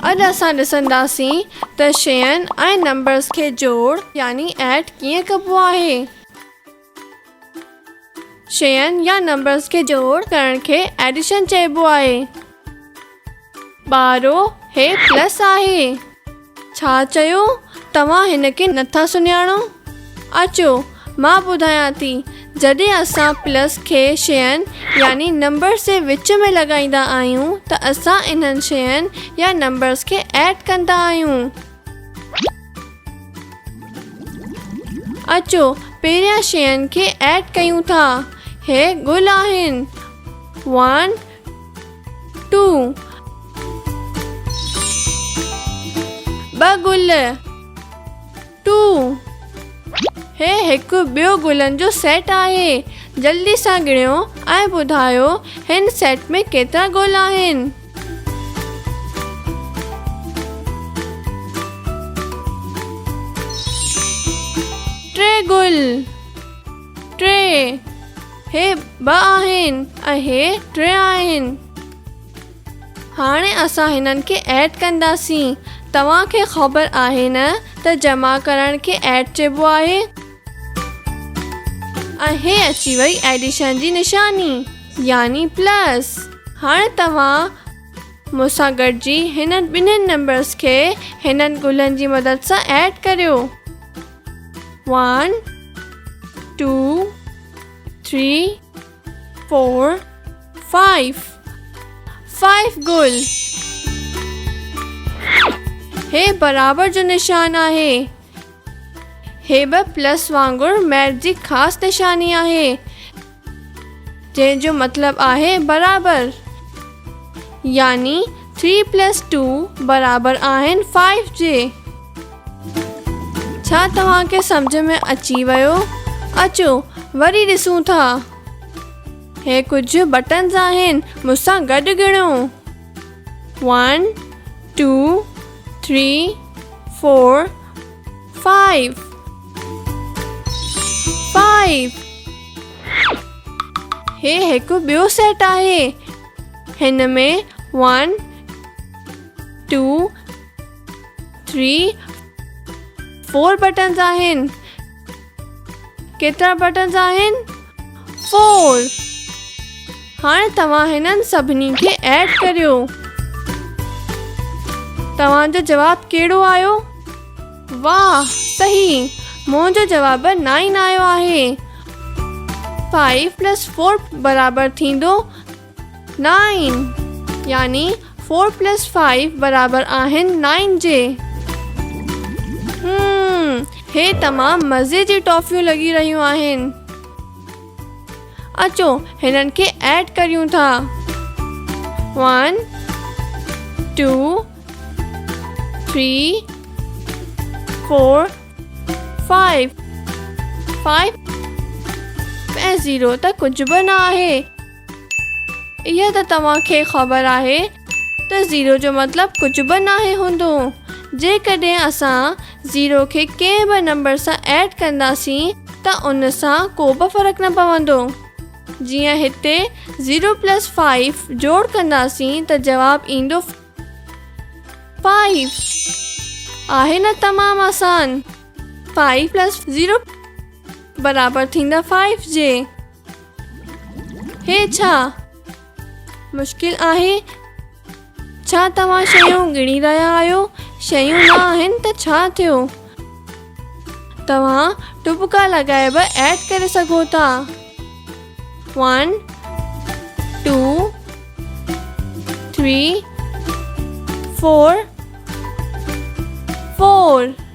اڄ اسان ڏسنداسين ته شين ۽ نمبرز کي جوڙ يعني Add ڪيئن ڪبو آهي. شين يا نمبرز کي جوڙ ڪرڻ کي Addition چئبو آهي. ٻارو، هي پلس آهي. ڇا چيو؟ توهان هن کي نٿا سڃاڻو؟ اچو، مان ٻڌايان ٿي. جڏهن اسان پلس کي شين يعني نمبرز جي وچ ۾ لڳائيندا آهيون ته اسان انهن شين يا نمبرز کي ايڊ ڪندا آهيون. اچو، پهريان شين کي ايڊ ڪيون ٿا. هي گل آهن. One ٽو، ٻه گل، ٽو، هي هڪ ٻيو گلن جو سيٽ آهي، جلدي سان ڳڻيو ۽ ٻڌايو هن سيٽ ۾ ڪيترا گل آهن؟ ٽي گل، ٽي. هي ٻه آهن ۽ هي ٽي آهن. هاڻي اسان هنن کي ايڊ ڪنداسين. توهان کي خبر آهي نه ته جمع ڪرڻ کي ايڊ چئبو آهي. ۽ هي اچي وئي ايڊيشن جي نشاني يعني پلس. هاڻي توهان مون سان گڏجي هنن ٻنهن نمبرز کي هنن گلن جي مدد سان ايڊ ڪريو. One two three four five five گل هي برابر جو نشان آهي هي به پلس وانگر ميرج جي خاص نشاني آهي جنهن جو مطلب آهي برابر يعني ٿري پلس ٽو برابر آهن فائيو جي. ڇا توهان کي سمجهه ۾ اچي ويو؟ اچو وري ڏسون ٿا. هي ڪجهه بٽنز آهن مون سان گڏ ڳڻو one two three four Five. Five. هي هڪ ٻيو سيٽ آهي هن ۾ one two three four buttons آهن ڪيترا بٽنز آهن؟ فور هاڻي توهان هنن سڀني کي ايڊ ڪريو. توهان جو جواب ڪهڙو آيو؟ واهه صحيح منهنجو جواب نائن آيو آهي. فائيو پلس فور برابر ٿيندو نائن يعني فور پلس فائيو برابر آهن نائن جي. هم هي تمام مزي جي ٽافيون لڳي رهيون آهن. اچو هنن کي ايڊ ڪريون ٿا. One two three four five five ۽ zero ته ڪجهه به نه آهي. اها ته توهان کي خبر آهي ته زيرو جو مطلب ڪجهه به ناهي هوندو. جيڪڏهن اسان زيرو کي ڪنهن به نمبر سان ايڊ ڪنداسين ته ان سان ڪو به فرق نه پوندو. جيئن هتي زيرو پلس فائيف جوڙ ڪنداسين ته جواب ايندو فائيف. آهي نه تمام آسان. فائيف پلس زيرو برابر ٿيندا فائيف جي. هي ڇا مشڪل آهي ڇا توهان شيون ڳڻي رهيا آهيو شيون نه آهن ته ڇا ٿيو توهان ٽپڪا لڳائي به ايڊ ڪري سگهو ٿا one two three four four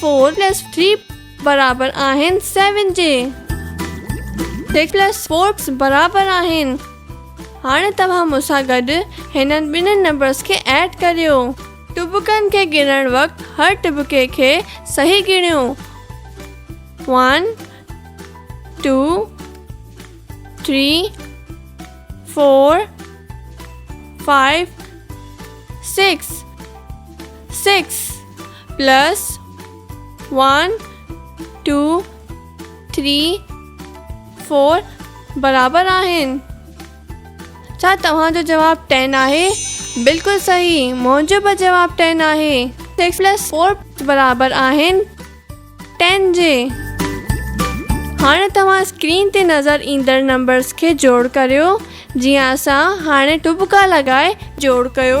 four plus three برابر آهن سيون جي سڪس پلس فور برابر آهن هاڻي توهان مون سان گڏ هنن ٻنهن نمبرس کي ايڊ ڪريو ٽٻڪن کي ڳڻڻ وقت هر ٽٻڪي کي صحيح ڳڻيو one two three four five six six plus one two three four برابر آهن ڇا توهان جو جواب ٽين آهي بلڪل صحيح منهنجو به جواب ٽين آهي سڪس پلس فور برابر آهن ٽين جي هاڻي توهان اسڪرين تي نظر ايندڙ نمبرز کي جوڙ ڪريو جيئن اسان هاڻي ٽٻڪا لڳائي جوڙ ڪيو.